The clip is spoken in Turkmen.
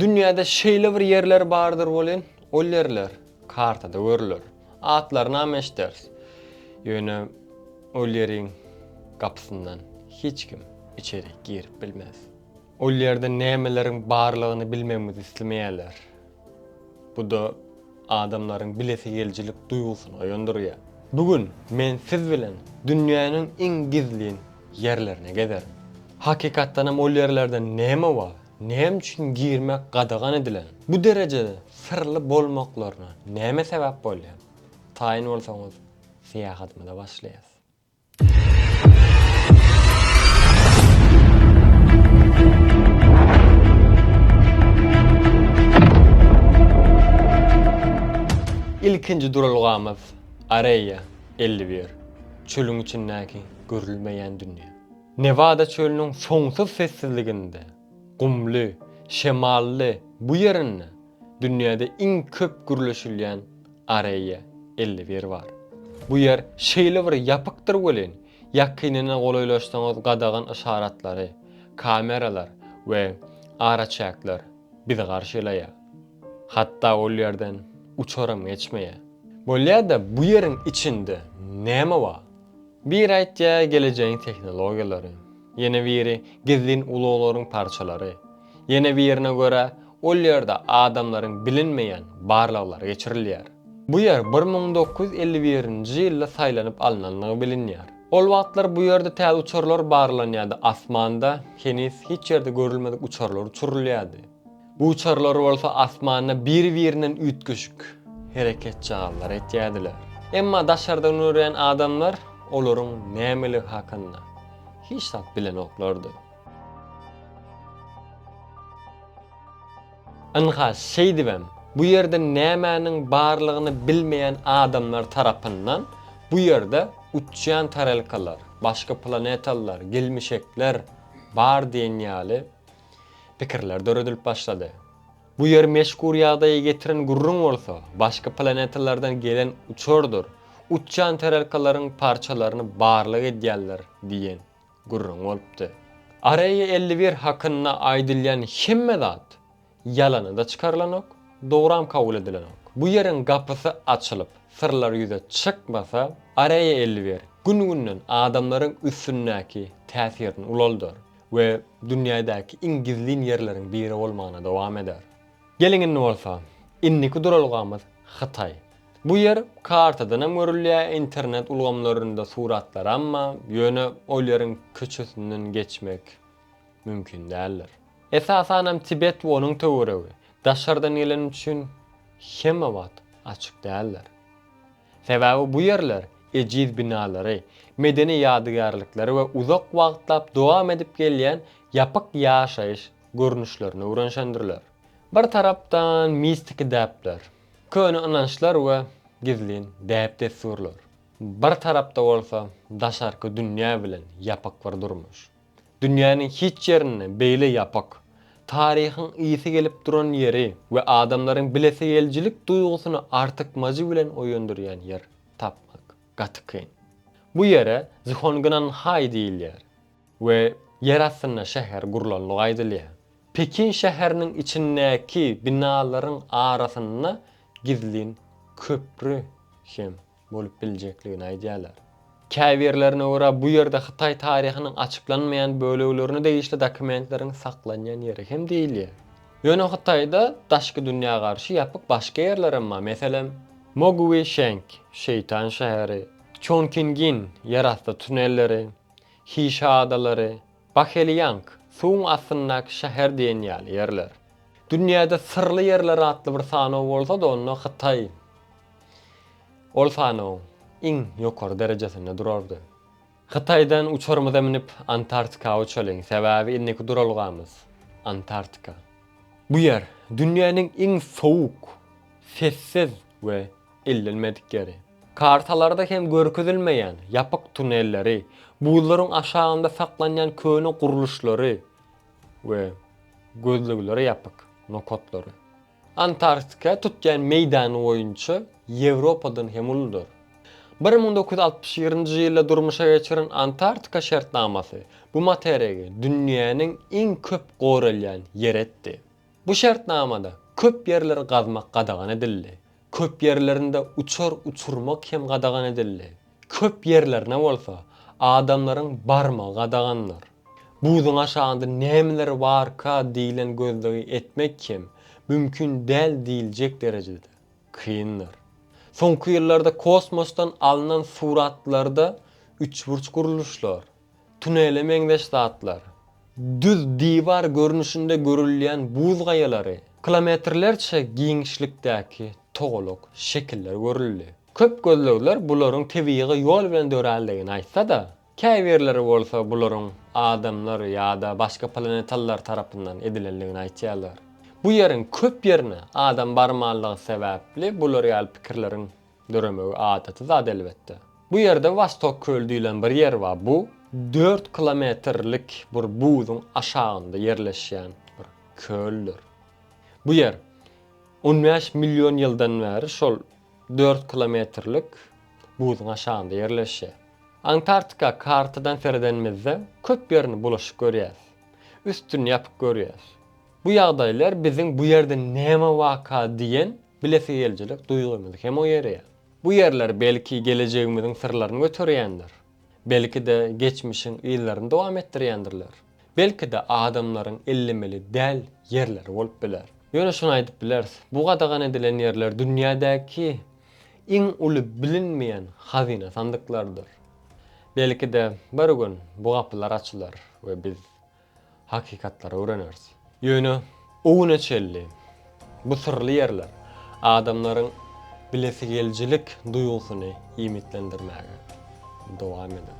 Dünýäde şeýle bir ýerler bardyr welin, ol ýerler kartada görüler. Atlarynam eşiders. Ýöne ol ýeriň gapysyndan hiç kim içeri girip bilmez. Ol ýerde nämeleriň barlygyny bilmegimizi islemeýärler. Bu-da adamlaryň bilesi gelijilik duýgusyny oýandyrýar. Bu gün men siz bilen dünýäniň iň gizlin ýerlerine gezerin. Hakykatdanam ol ýerlerde näme bar? Näme üçin girmek gadagan edilen? Bu derejede syrly bolmaklaryna näme sebäp bolýar? Taýyn bolsaňyz, syýahatymyza başlaýas. Ilkinji duralgamyz Areýa elli bir, çölüň içindäki görülmeýän dünýä. Newada çölüniň soňsuz sessizliginde, gumly, şemally bu ýerinde dünýäde iň köp gürleşilýän Areýa elli bir bar. Bu ýer şeýle bir ýapykdyr welin, ýakynyna golaýlaşsaňyz gadagan yşaratlary, kameralar we araçäkler bizi garşylaýar. Hatda ol ýerden uçaram geçmeýär. Bolýa-da bu ýeriň içinde näme bar? Biri aýtýa gelejegiň tehnologiýalary, ýene biri gizlin ulaglaryň parçalary, ýene birine görä ol ýerde adamlaryň bilinmeýän barlaglary geçirilýär. Bu ýer bir müň dokuz ýüz elli birinji ýylda saýlanyp alnandygy bilinýär. Ol wagtlar bu ýerde täze uçarlar barlanýardy, asmanda heniz hiç ýerde görülmedik uçarlar uçurylýardy. Uçarlar bolsa asmanda bir-birinden üýtgeşik hereketjagazlar etýärdiler. Emma daşardan görýän adamlar olaryň nämeligi hakynda hiç zat bilenoklardy. Ynha, şeýdibem, bu ýerde nämäniň barlygyny bilmeýän adamlar tarapyndan bu ýerde uçýan tarelkalar, başga planetalylar, gelmişekler bar diýen ýaly pikirler döredilip başlady. Bu ýer meşgur ýagdaýa getiren gürrüň bolsa, başga planetalardan gelen uçardyr, uçýan tarelkalaryň parçalaryny barlag edýärler diýen gürrüň bolupdy. Areýa elli bir hakynda aýdylýan hemme zat ýalana-da çykarylanok, dogram kabul edilenok. Bu ýeriň gapysy açylyp, syrlar ýüze çykmasa, Areýa elli bir, gün-günden adamlaryň üstündäki täsirini ulaldyr. we dünýädäki iň gizlin ýerleriň biri bolmagyna dowam eder. Geliň indi bolsa, indiki duralgamyz Hytaý. Bu ýer kartadanam görülýär, internet ulgamlarynda suratlaram bar, ýöne ol ýeriň köçesinden geçmek mümkin däldir. Esasanam Tibet we onuň töweregi daşardan gelen üçin hemme wagt açyk däldir. Sebäbi bu ýerler ejiz binalary, medeni ýadygärlikleri we uzak wagtlap dowam edip gelýän ýapyk ýaşaýyş görnüşlerini öwrenşendirler. Bir tarapdan mistiki däpler, köne ynançlar we gizlin däp-dessurlar, bir tarapda bolsa daşarky dünýä bilen ýapyk bir durmuş. Dünýäniň hiç ýerinde beýle ýapyk, taryhyň ysy gelip duran ýeri we adamlaryň bilesigelijilik duýgusyny artykmajy bilen oýandyrýan ýer tapmak gaty kyn. Bu ýere Zhongnan-Haý diýilýär we ýer astynda şäher gurlandygy aýdylýar. Pekin şäheriniň içindäki binalaryň arasynda gizlin köpri hem bolup biljekdigini aýdýarlar. Käbirlerine görä, bu ýerde hytaý taryhynyň açyklanmaýan böleglerine degişli dokumentleriň saklanýan ýeri hem diýilýär. Ýöne Hytaýda daşky dünýä garşy ýapyk başga ýerler hem bar, meselem, Mogui Şeng, Şeýtan şäheri, Çongkingin, ýerasty tunelleri, Hi Şa adalary, Baheliýang, suwuň astyndaky şäher diýen ýaly ýerler. Dünýäde syrly ýerler atly bir sanaw bolsa-da onda Hytaý ol sanawyň iň ýokary derejesinde durardy. Hytaýdan uçarymyza münüp Antartika uçalyň, sebäbi indiki duralgamyz Antartika. Bu ýer, dünýäniň iň sowuk, sessiz we ellenmedik ýeri. Kartalarda hem görkezilmeýän ýapyk tunelleri, buzlaryň aşagynda saklanýan köne gurluşlary we gözleglere ýapyk nokatlary. Antarktika tutýan meýdany boýunça Ýewropadan hem uludyr. Bir müň dokuz ýüz altmyş birinji ýylda durmuşa geçiren Antarktika şertnamasy bu materigi dünýäniň iň köp goralýan ýeri etdi. Bu şertnamada köp ýerleri gazmak gadagan edildi. Köp ýerlerinde uçar uçurmak hem gadagan edildi. Köp ýerlerine bolsa adamlaryň barmagy gadagandyr. Buzuň aşagynda nämeler barka diýlen gözlegi etmek hem mümkin däl diýiljek derejede kyndyr. Soňky ýyllarda kosmosdan alnan suratlarda üçburç gurluşlar, Tunele meňzeş zatlar, düz diwar görnüşinde görülýän buz gaýalary, kilometrlerçe giňişlikdäki togalak şekiller görüldi. Köp gözlegler bularyň tebigy ýol bilen dörändigini aýtsa-da, käbirleri bolsa bularyň adamlar ýa-da başga planetalylar tarapyndan edilendigini aýtýarlar. Bu ýeriň köp ýerine adam barmanlygy sebäpli bular ýaly pikirleriň Döremegi adaty zat elbetde. Bu ýerde Wostok köli diýlen bir ýer bar. Bu dört kilometrlik bir buzuň aşagynda ýerleşýän bir köldür. Bu ýer on bäş million ýyldan bäri şol dört kilometrlik buzuň aşagynda ýerleşýär. Antarktika kartadan seredenimizde köp ýerini bulaşyk görýäs. Üstüni ýapyk görýäs. Bu ýagdaýlar biziň bu ýerde näme waka diýen Bilesigelijilik duýgymyz hem oýarýar. Bu ýerler belki gelejegimiziň syrlaryny göterýändir. Belki-de geçmişiň yzlaryny dowam etdirýändirler. Belki-de adamlaryň ellemeli däl ýerleri bolup biler. Ýöne şuny aýdyp bileris, bu gadagan edilen ýerler dünýädäki iň uly bilinmeýän hazyna sandyklardyr. Belki-de bir gün bu gapylar açylar we biz hakykatlary öwreneris. Ýöne o güne çenli bu syrly ýerler adamlaryň bilesigelijilik duýgusyny iýmitlendirmäge dowam eder.